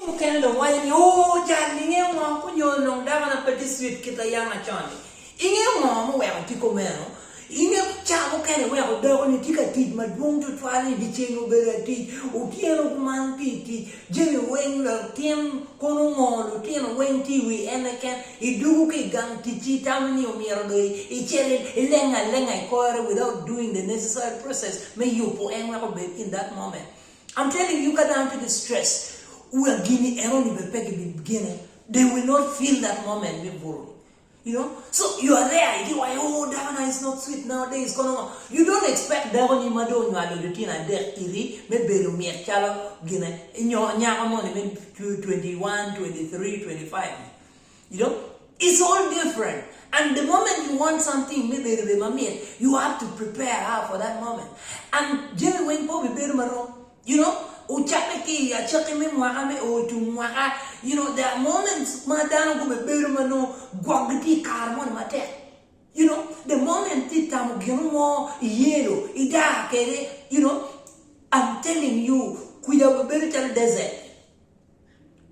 mukene dong waco ni, Oo, cal-li! Ingeyo ngo? Onyo onongo dakona pe tye sweet kit a yam macon-ni. Ingeyo ngo ma oweko tye kumeno? Ingeyo ca mukene iweko dakoni tye ka tic madwong tutwal ni dyeceng obedo atic, otyeno kuman tye i tic, jami weng, latin kono ongo, lutino weng tye i wi en keken, idwogo ki i gang ticci itamo ni omyero dong icel ileng alenga i kore without doing the necessary process me yubo en wek obed in that moment. I'm telling you ka dano tye ki stress wira gini eno ni bene pe gi bi gene they will not feel that moment me buru ni you know so you are there i diwa aye ooh dako na is not sweet now days kono ngo you don't expect dako ni ma dong onywalo litino adek iri me bedo mit calo gine nyo nyako moni me twenty one, twenty three, twenty five ni. You know it's all different and the moment you want something me bedo be mamit you have to prepare her for that moment and jami weng pe obibedo marom you know ocakke ki i acakki me mwaka me oo tung mwaka you know there are moments ma dano gubibedo ma nongo gwokgi tye i kare moni matek you know the moment ti tamo gino mo i yelo idar kede you know I'm telling you kwica obibedo calo desert.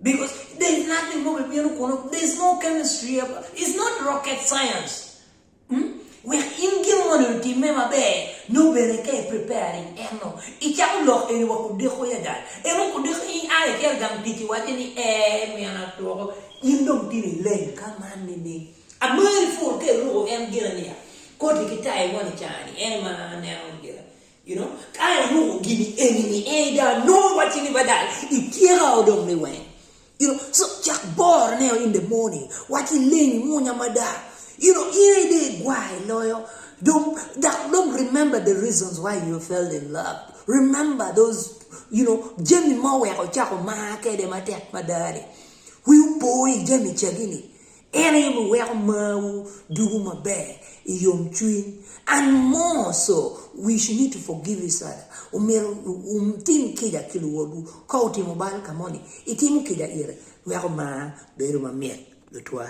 Because there's nothing mo bibino kunu. There's no chemistry. It's not rocket science. Hmm? Wek in gin mo ni otimme maber, nyo bene ka i preparing eno, icako lok eni wa kudeko yada. Eno kudeko in a ikel gang tic iwace ni ee min atwoko, in dong tino ileng ka man nining? Amari pur ka iruko en gina niya, koti ki tai mo ni caa ni en ma aneno gina. You know, ka inongo gini eni ni en ga nongo wacci ni badal ityeka o dong me weng. You know, so cak boro ne o in the morning, wac ileng munya mada, you know, in aye dong igwar iloyo, dong dok dong remember the reasons why you fell in love, remember those you know jami ma oweko icako mar kede matek mada ni, wi opo i jami cagi ni, En aye wuweko marwu dugo maber i yomcwiny. And more so, we should need to forgive each other. Omyero wutim kica ki luwotwu. Ka otimo bal ka moni, itimu kica ite wek omar bedo mamit. Lutwa.